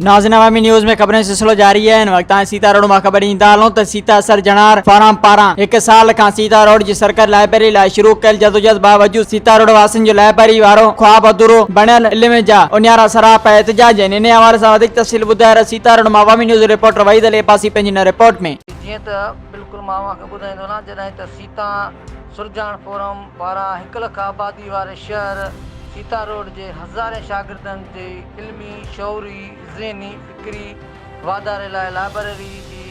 ناظرين عوامي نيوز ۾ خبرن جو سلسلو جاري آهي ان وقت تائين سيتا روڊ مان خبر ڏيندا هلون ته سيتا سر جنار فارم پاران هڪ سال کان سيتا روڊ جي سرڪاري لائبرري لاء شروع ڪيل جدوجهد باوجود سيتا روڊ واسين جو لائبرري وارو خواب اڌورو بڻيل علم جا اونيارا سراپا احتجاج آهن انهي حوالي سان وڌيڪ تفصيل ٻڌائي رهيو سيتا روڊ مان عوامي نيوز جو رپورٽر وحيد علي عباسي پنهنجي هن رپورٽ ۾ جيئن ته بلڪل مان اوهان کي ٻڌائيندو هلان جڏهن ته سيتا تان سرجاڻ فورم پاران هڪ لک آبادي واري شهر سيتا روڊ جي هزارين شاگردن جي علمي، شعوري، ذهني، فڪري واڌاري لاء لائبريري جي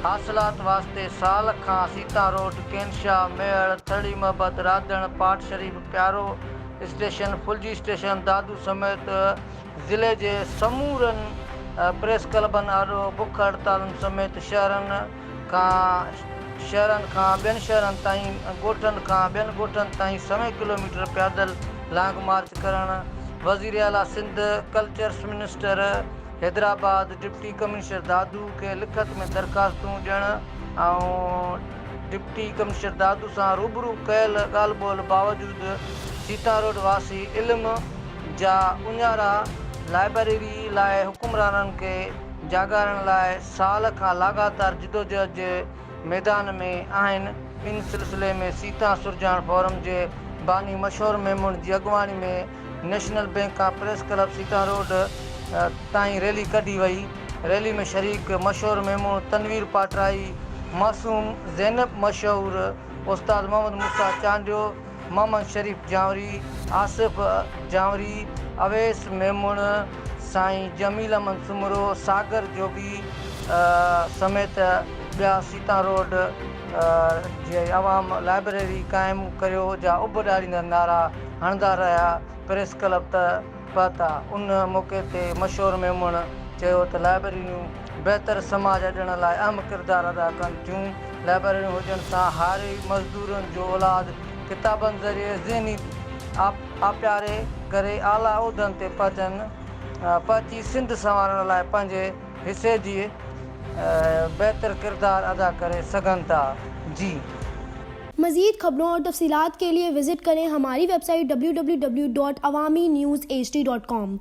حاصلات واسطي سال کان سيتا روڊ، ڪينشا، ميهڙ، ٿرڙي محبت، راڌڻ، پاٽ شريف، پيارو اسٽيشن، ڦلجي اسٽيشن، دادو سميت ضلعي جي سمورن پريس ڪلبن آڏو بک هڙتالن سميت شهرن، کان شهرن کان ٻين شهرن تائين، ڳوٺن کان ٻين ڳوٺن تائين سوين ڪلوميٽر پيادل لانگ مارچ ڪرڻ، وزير اعليٰ Sindh, cultures minister Hyderabad, deputy commissioner Dadu کي لکت ۾ درخواستون ڏيڻ ۽ ڊپٽي ڪمشنر دادو سان روبرو ڪيل ڳالهه ٻولهه باوجود سيتاروڊ واسي علم جا اڃارا لائبريري لاء حڪمرانن کي جاڳائڻ لاء سال کان لاڳاتار جدوجهد جي ميدان ۾ آهن، ان سلسلي ۾ سيتان سرجاڻ فورم جي باني مشهور ميمڻ جي اڳواڻي ۾ نيشنل بئنڪ کان پريس ڪلب سيتان روڊ تائين ريلي ڪڍي وئي، ريلي ۾ شريڪ مشهور ميمڻ تنوير پاٽرائي، معصوم، زينب، مشهور استاد محمد موسيٰ چانڊيو، محمد شريف جانوري، آصف جانوري، اويس ميمڻ، سائين جميل احمد سومرو، ساگر جوڳي سميت ٻيا سيتان روڊ جي عوام لائبريري قائم ڪريو جا اڀ ڏاريندڙ نعرا هڻندا رهيا، پريس ڪلب ته پهتا. ان موقعي تي مشهور ميمڻ چيو ته لائبريريون بهتر سماج اڏڻ لاء اهم ڪردار ادا ڪن ٿيون. لائبريريون هجڻ سان هاري مزدورن جو اولاد ڪتابن ذريعي ذهني آپياري ڪري اعليٰ عهدن تي پهچن پهچي سنڌ سنوارڻ لاء پنهنجي حصي جي بهتر ڪردار ادا ڪري سگهن ٿا. جي. مزيد خبرون اور تفصيلات کے ليے وزٽ ڪرين ھماري ويب سائيٽ www.awaminews.hd.com.